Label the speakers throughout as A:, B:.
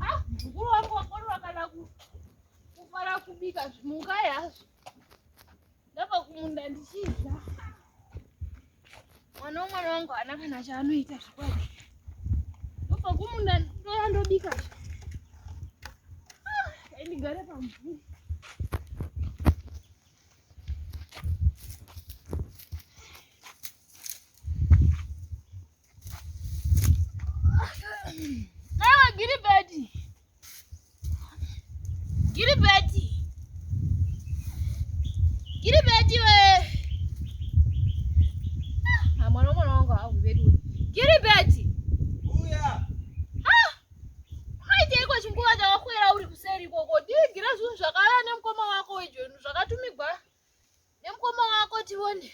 A: Ah, mukuru wangu wakorora kana kufara kubika zvimuka yazvo ndabva kumunda ndichidya mwana wemwana wangu haana kana chaanoita zvikwadi ndobva kumunda ndoya ndobika zvi ndigare pamvuri Nawe Gilibeti. Gilibeti. Gilibeti we. Ah, mwana mwana wangu hakubedu we. Gilibeti.
B: Uya. Ah.
A: Haite iko chinguva chakakwera uri kuseri ikoko. Digira zvinhu zvakarara nemukoma wako weJoni zvakatumigwa nemukoma wako tione.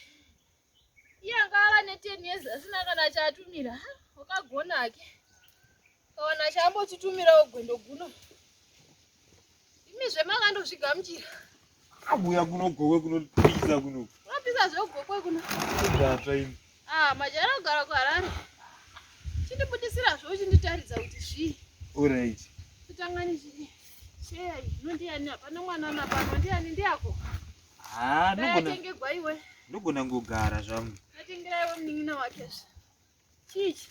A: iye anga ava neten years asina kana chaatumira wakagona hake kawana chaambotitumirawo gwendo guno imi zvemakandozvigamuchira abuya
B: kuno gokwe kunopisa kuno unopisa zvegokwe
A: kuno zvatsva imi
B: ah majara kugara
A: kuharare chindibudisira zvo uchinditaridza kuti zvii orit
B: kutangani
A: zvii shei inondiyani hapana mwana napano ndiyani ndiyako Ah,
B: ndogona. Atengegwa iwe.
A: Ndogona ngogara
B: zvangu. Atengera iwe munin'ina
A: wake. Chichi.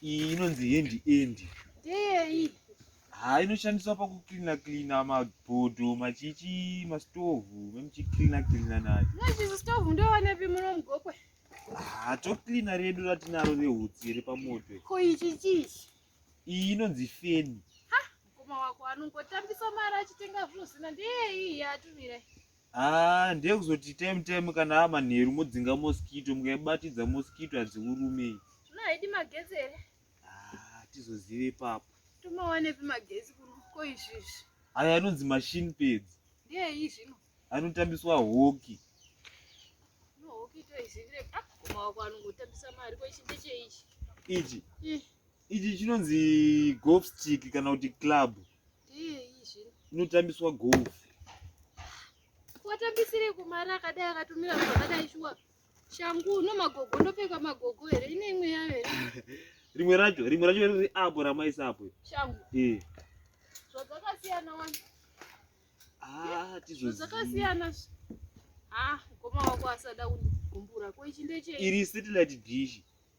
A: Iyi
B: inonzi hand end. Ndeyei?
A: Ah, inoshandiswa
B: pakuklina klina mabhodho, machichi, mastovhu, memuchiklina klina nayo. Nezvizi stovhu
A: ndowanepi muno mugokwe? Ah,
B: toklina redu ratinaro rehutsi repamoto. Ko ichi chichi.
A: iyi inonzi
B: feni mukoma wako
A: anongotambisa mari achitenga zvinhu zina ndeyei yaatumira haa ah,
B: ndeyekuzoti time time kana ava manheru modzinga moskito mukaibatidza moskito hadziurume zvino haidi magetsi
A: here hatizozive
B: ah, ipapo tomawanepi
A: magetsi kuruko izvizvi aya anonzi
B: machine peds ndeyei zvino
A: anotambiswa
B: hoki
A: no hoki toizivire ah, mukoma wako anongotambisa mari ko ichi ndecheichi ichi
B: ichi chinonzi golf stick kana kuti club
A: inotambiswa golf watambisirei kumari akadai akatumira vanhu vakadai shuwa shangu no magogo ndopfeka magogo here ine imwe yayo here rimwe racho
B: rimwe racho riri apo ramaisa apo shangu ee
A: zvadzakasiyana wani ah,
B: tizozakasiyana
A: ah mukoma wako asada kundigumbura ko ichi ndechei iri satellite dish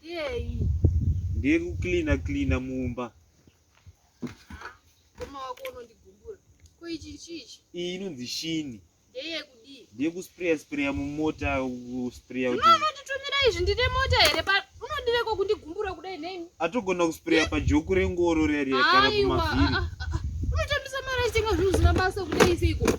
A: Yei. Ndiye kucleaner
B: cleaner mumba.
A: Koma wako unondigumbura. Ko ichi chichi? Iyi inonzi shini.
B: Ndeye kudii?
A: Ndiye kusprayer sprayer
B: mumota kusprayer kuti. Unoona kuti tumira izvi ndine
A: mota here pa unondireko kundigumbura kudai nei? Atogona kusprayer pa
B: joku rengoro riya riya kana kumavhiri. Unotambisa
A: mara chitenga zvinhu zvisina basa kudai seiko.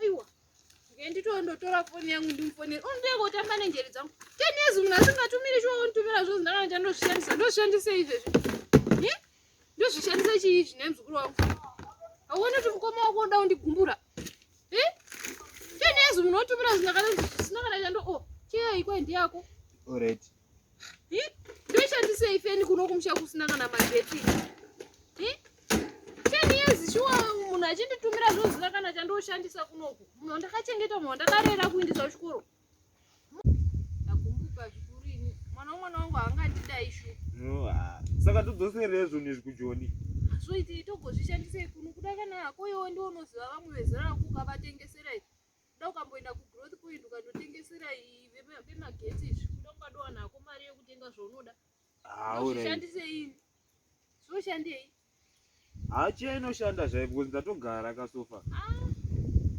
A: aiwa ngenditoo ndotora foni yangu ndimufonere undiye kotamba nenjeri dzangu ten years munhu asingatumiri chiwa unditumira zvozi ndakana chandozvishandisa ndozvishandisa izvezvi ndozvishandisa chii izvi nemzukuru wangu auone kuti mukoma wako unoda kundigumbura ten years munhu otumira zvinhu akana zvisina kana chando o oh, chiyai kwai ndiyako alright
B: ndoshandisei
A: feni kuno kumusha kusina kana magetsi ten years shuwa munhu achinditumira zvozina kana chandoshandisa kunoku munhu ndakachengeta munhu ndakarera kuindisa kuchikoro ndagumbuka zvikuru ini mwana wemwana wangu haangandidai shu saka
B: todzoserei zvinhu izvi kujoni zvoitei
A: togozvishandisei kuno kuda kana hako iwe ndiwo unoziva vamwe vezera rako ukavatengesera izvi kuda ukamboenda kugrowth point ukandotengesera vemagetsi izvi kuda ungadowana hako mari yekutenga zvaunoda zvishandise ini
B: zvoshandei hachiya
A: inoshanda zvai
B: because ndatogara kasofa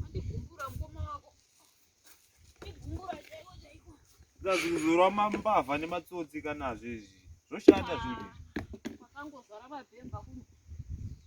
B: andigumbura ah, mukoma wako igumbura chaiko chaiko kazuzurwa mambavha nematsotsi kanazvo izvi zvoshanda zvinhu
A: izvi
B: ah, makangozvara
A: mabhemba
B: kuno